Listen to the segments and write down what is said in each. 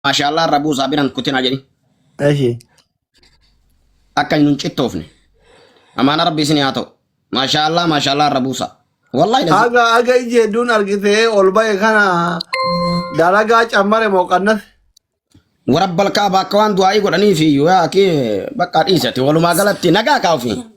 Maashaallah rabuu isaa biran kutina jedhi. Eshi. Akka hin cittoofne. Amaana rabbi isin haa ta'u. Maashaallah maashaallah rabuu isaa. Wallahi lazim. Aga aga iji hedduun argitee ol ba'e kana dalagaa cammare moo qannas. Warabbal kaaba akka waan du'aa'ii godhaniif iyyuu yaa akii bakka dhiisati walumaa galatti nagaa kaa'ufi.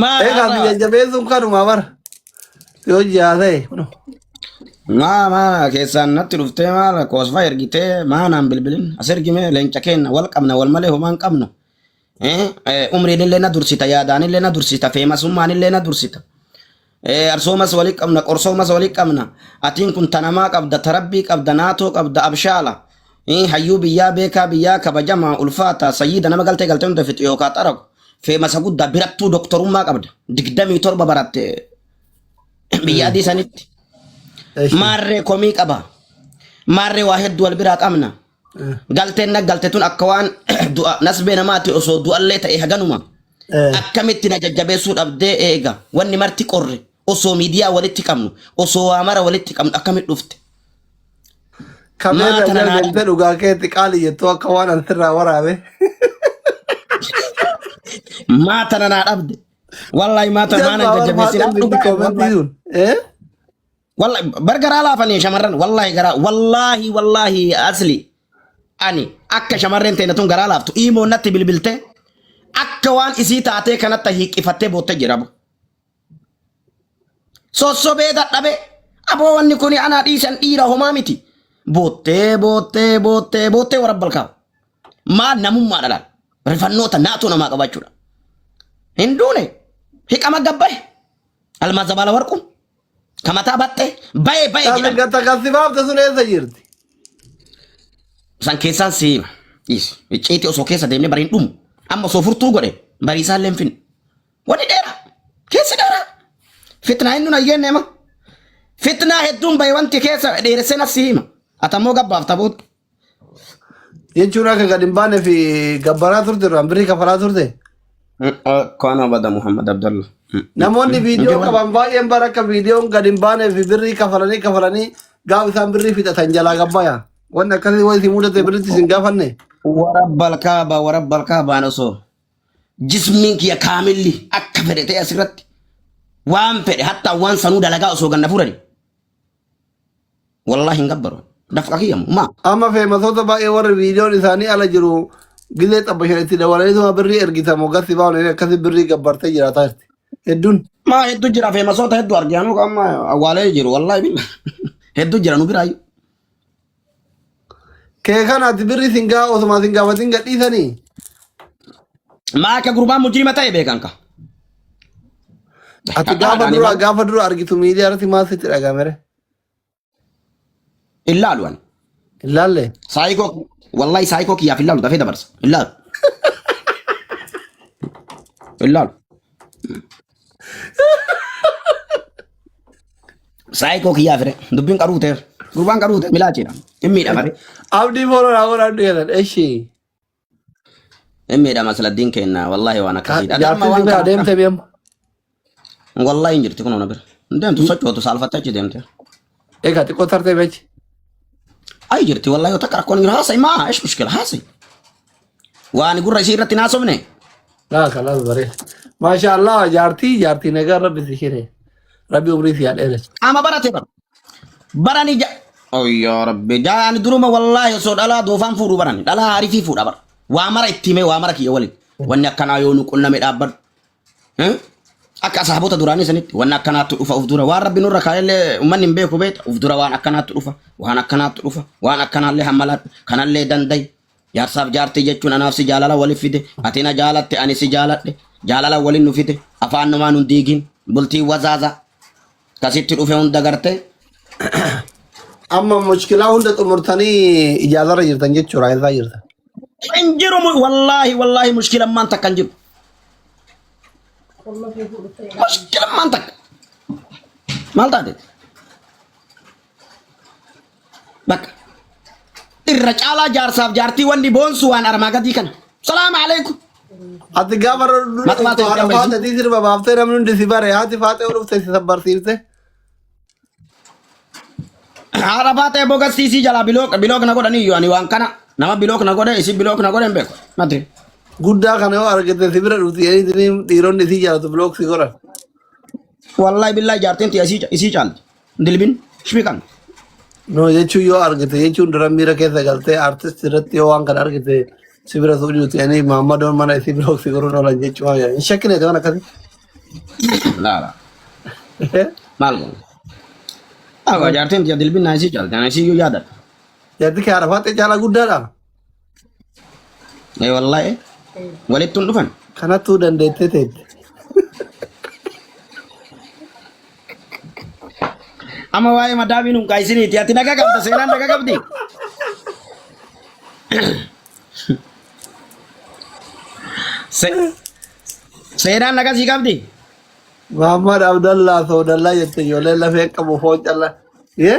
Maal Egaa haasawaa? biyya jabeessuun kanuma bara. Yoo jiraa ta'e kunoo. Maa maa keessaan natti dhuftee maal koosfaa ergitee maa naan bilbilin as ergimee leenca keenna wal qabna wal malee homaa hin qabnu. Eh, eh, Umriin illee na dursita yaadaan illee na dursita feemasummaan illee na dursita. Eh, arsoomas wali qabna qorsoomas wali qabna atiin kun tanamaa qabda tarabbii qabda naatoo qabda abshaala Eh, hayyuu biyyaa beekaa biyyaa kabajamaa ulfaata sayyiida nama galtee galtee hunda fixu yookaa xaragu feemasa guddaa birattuu doktorummaa qabda digdamii torba baratte biyya adii sanitti Eshi. maarree komii qaba maarree waa hedduu wal biraa qabna Galteen na galte tun akka waan du'a nasbee namaati osoo du'allee ta'e haganuma akkamitti na jajjabeessuu dhabdee eega wanni marti qorre osoo miidiyaa walitti qabnu osoo waa mara walitti qabnu akkamitti dhufte Kameerra Maata na naa- galmeessite dhugaa keetti qaali jettu akka waan an sirraa waraabe. maata na naa dhabde wallahi maata maana Jalqaba waan jajjabeessinaa haadha dhugaa miti koomeentii sun. Eh? Walla- bar garaa laafanii shamarran wallaahi garaa wallaahi wallaahi asli ani akka shamarreen teenya tun garaa laaftu imoo natti bilbilte akka waan isii taatee kanatti hiiqifattee bootte jedhamu. Sossobee dadhabe aboo wanni kun anaa dhiisan dhiira homaa miti. Boottee boottee boottee boottee warra balkaa'u. Maal namummaa dhalaan rifannoota naatoo namaa qabaachuudha. Hin duune hiqama gabbaye almaa zabaala warquun Ka mataa baxxe bayee bayee Tafi jedhama. gata kasi baafte sun eessa jirti? San keessaan si hima. Dhiisi. Icciitii osoo keessa deemnee bariin dhumu. Amma osoo furtuu godhe barii isaan leen finne. Wanni dheera. Keessi dheera. Fitnaa hin nuna jenne ma. Fitnaa hedduun bahe wanti keessa dheeresseen as si hima. Atammoo gabbaaf taboota. jechuun akka gad hin baane fi gabbaraa turte irraan birrii kafalaa turte Kaan abada Muhammad Abdallah. namoonni viidiyoo qaban baay'een bara akka viidiyoon gad hin baane fi birrii kafalanii kafalanii gaafa isaan birrii fixatan jalaa gabbaya wanni akkasii waan isin mudate birritti isin gaafanne Warabbal kaaba warabbal kaabaan osoo jismiin kiyya kaamilli akka fedhe ta'e asirratti waan fedhe hatta waan sanuu dalagaa osoo ganna fuudhani. Wallahi hin gabbaru. Dafqa kiyya moo maa? Amma feemasoota baay'ee warri viidiyoon isaanii ala jiru gizee xabbashan itti dabalaniituma birrii ergitamu gatti baa'uun inni akkasi birrii gabbartee jiraataa jirti. Hedduun. Maa hedduu jira feemasoota hedduu arge anuu amma awwaalee jiru wallahi billa. Hedduu jira nu biraayyuu. Kee kana ati birri sin gaa osuma sin gaafatin gadhiisanii. Maa akka gurbaan mujjirima ta'e beekan ka. Ati gaafa Ani dura mal- gaafa dura argitu miidiyaa irratti maal sitti dhagaamere? Hin laalu ani. Hin laalle. Saayikoo wallahi saayikoo kiyyaaf hin laalu dafee dabarsa. Hin laalu. Hin laalu. Saayikoo kiyyaa fire. Dubbiin qaruu ta'e. Gurbaan qaruu ta'e milaachiidha. Hin miidhama. Abdii fooroo naa godhaa dheeran. Eshi. Hin miidhama siladdiin keenna. Wallaahi waan akkasiidha. Adamma Jaartiin waan biraa kana. deemte beemma. Wallaahi hin jirti kun ona bira. Hin deemtu sochootu saalfattee achi deemte. Egaa xiqqoo tartee beekti. Ayi jirti wallahi yoo takka rakkoon hin jiru haasa'e maa ish mushkila haasa'e. Waan gurra isii irratti hin haasofne. Laa kalaas baree. Maashaa Allah jaartii jaartii nagaa rabbi si shiree. Rabbi umrii si haa dheeressu. Qaama barate bara. Barani ja. Oyyaa rabbi jaani duruma wallahi osoo dhalaa doofaan fuudhu barani dhalaa haarifii fuudha bara. Waa mara itti himee waa mara kiyya waliin. Wanni akkanaa yoo nu qunname dhaabbadhu. Akka asaabota duraanii sanitti waan akkanaatti dhufa of dura waan rabbi nurra kaa'ellee uummanni hin beeku beekta of dura waan akkanaatti dhufa waan akkanaatti dhufa waan akkanaallee hammalaadhu kanallee dandayi jaarsaaf jaartii jechuun anaaf si jaalala waliif fide ati na jaalatte ani si jaaladhe jaalala waliin nu fide afaan numaa nun diigin bultii wazaaza Ka sitti dhufe hunda garte. Amma mushkilaa hunda xumurtanii ijaazarra jirtan jechuudha eessaa jirtan. Hin jiru mu- wallaahi wallaahi mushkilammaan takka hin jiru. Mushkilammaan takka. Maal taate? Bakka. Irra caalaa jaarsaaf jaartii wanni boonsu waan armaa gadii kana. Salaamu alaikum. Ati gaafa Mata mata haadha jedhama faata tii sirba baaftee namni hundi si bare haati faatee dhufte si sabbarsiifte. Haadha faata eeboo gassiisii jalaa bilook bilook na godhanii iyyuu ani waan kana nama bilook na godhe isin bilook na godhe hin beeku. Mati. Guddaa kana yoo argite si bira dhufti jedhanii dhiironni si jaalatu bilooksi godhan. Wallahi billahi jaartiin tiyya isii ca- isii caalti. Dilbin shimi qabna. No jechuun yoo argite jechuun dura miira keessa galtee artist irratti yoo waan kana argite si bira suudhi nuti ani maammadoon mana isii bira oksi goruun oolan jechuu waan hin shakkine waan akkasii. Laala. Maal goona? Awa jaartiin tiyya dilbin naa isii caalti. Ana isii iyyuu yaadadha. Yaaddi kee arafaattee caalaa guddaadha. Ee wallahi walitti hin dhufan. Kanattuu dandeettee teette. Amma waa'ee madaabiin hin kaayisiniiti. Ati nagaa qabda seenaan nagaa qabdi. Se- Seenaan nagaa sii qabdi. Muhammad Abdallah Soodallaa jette ijoollee lafee qabu foon callaa. Yee?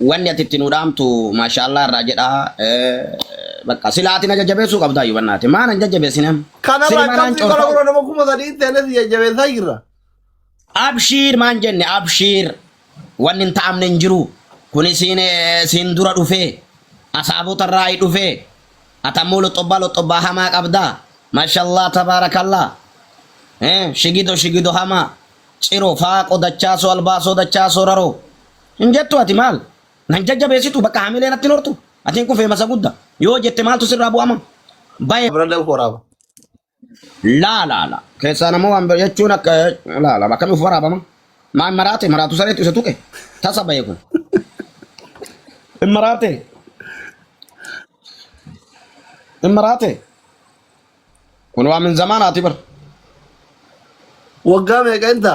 Wanni ati itti nu dhaamtu maashaallah irraa jedha. Bakka sila ati na jajjabeessuu qabdaa yoo bannaate. Maa na jajjabeessine amma? Kanarraa Silima naan akkasii qola coortaa. gura nama kuma sadii hin teenes jajjabeessaa jirra. Abshiir maan jenne abshiir wanni hin ta'amne hin jiru. Kun isiin eh, siin dura dhufee asaabota irraa hi dhufee atammoo loxobbaa loxobbaa hamaa qabdaa. Maashaallah tabaarakallah. Eh, shigido shigido hamaa. Ciro faaqo dachaasoo albaasoo dachaasoo raroo. Hin jettu ati maal? Nan jajjabeessitu bakka hamilee natti hin hortu. Ati hin kufee masa gudda. Yoo jette maaltu sirraa bu'ama? Baye Abra da'u horaaba. laa laa laa. Keessaa nama waan bira jechuun akka laa laa akkamiif waraabama? Maa hin maraate maraatu sareetu isa tuqe. Tasa baye kun. Hin maraate. Hin maraate. Kun waa min zamaanaati bar. Waggaa meeqa inta?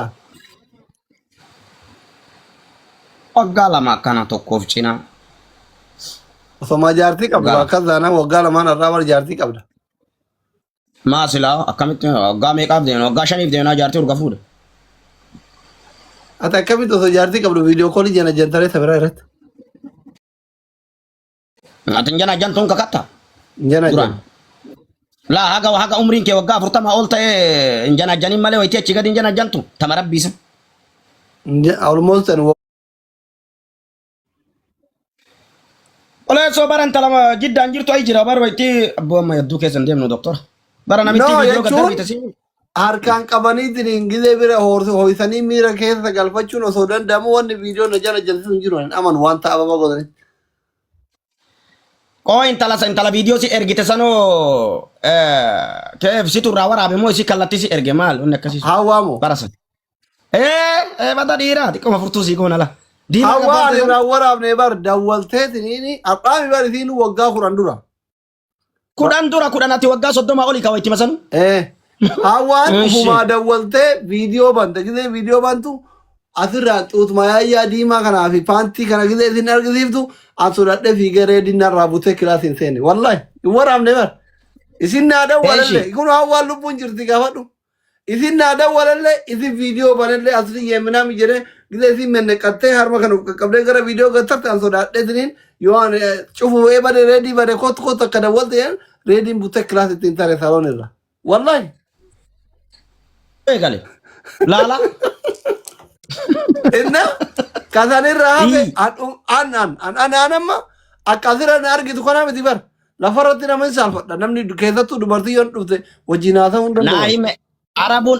Waggaa lama akkana tokkoof cinaa. Osomaa jaartii qabdu Waggaa lama. akkas taanaan waggaa lamaan irraa warra jaartii qabda. Maa silaa akkamitti waggaa meeqaaf deemna? Waggaa shaniif deemnaa jaartii urga fuudha. Ati akkamitti osoo jaartii qabdu viidiyoo koolii jana jantaree sabiraa irratti. Ati hin janaa jantuun kakatta. Hin janaa Duraan. janaa. Laa haga haga umriin kee waggaa afurtamaa ol ta'e hin janaa janiin malee wayitii achi gadi hin janaa jantu. Tama rabbiisa. Hin ja- Almost ani wa- Oleessoo bara intala ma- jiddaan jirtu ayi jira bara wayitii abboo amma yadduu keessa hin deemnu doktora. Bara namitti No, viidiyoo gaddaa jechuun- biite siin. Harkaan qabaniitiin gizee bira hoors- ho'isanii miira keessa galfachuun osoo danda'amu wanni viidiyoo na jala jalsisu hin jiru. Ani amanu wanta ababa godhanitti. Qoo intala sa intala viidiyoo si ergite sanoo keef situ irraa waraabe moo isii kallattii si erge maal wanni akkasii sun Hawwaa moo? bara san. Ee ee bada dhiiraa xiqqoma furtuu sii goona la. Diimaa Hawwaa gabbaatte ani san. irraa waraabne bar dawwalteetiniini har'aami bar isiin waggaa kudhan dura. Kudhan dura kudhan ati waggaa soddoma oli kawa itti masanu. Eh. Hawaan Eeshi. ufumaa dawwaltee viidiyoo banta gisee viidiyoo bantu asirraa xuutuma yaayyaa diimaa kanaa fi paantii kana gisee isin argisiiftu an sodadhee fiigee reediin narraa butee kilaasii hin seene wallahi hin waraabne bar isin naa dawwalalle Eeshi. kun hawaan lubbuun jirti gaafadhu Isin naa dawwalalle isin viidiyoo banalle asli yeeminaami jedhe gisa isin menneqattee harma kan of qaqqabdee gara viidiyoo gattarte an sodaadhe isiniin yoo an eh, cufu ee bade reedii bade kottu kottu akka dawwalte jedhan reediin buttee kilaas ittiin tare saloon irra wallahi eegale laala inna kasan irra hafe Ii. an an an an an amma akka asirra na argitu kanaa miti bar Lafa irratti nama hin saalfadha. Namni keessattuu dubartii yoo dhufte wajjin haasa'uu hin danda'u. Naa'ime Arabuun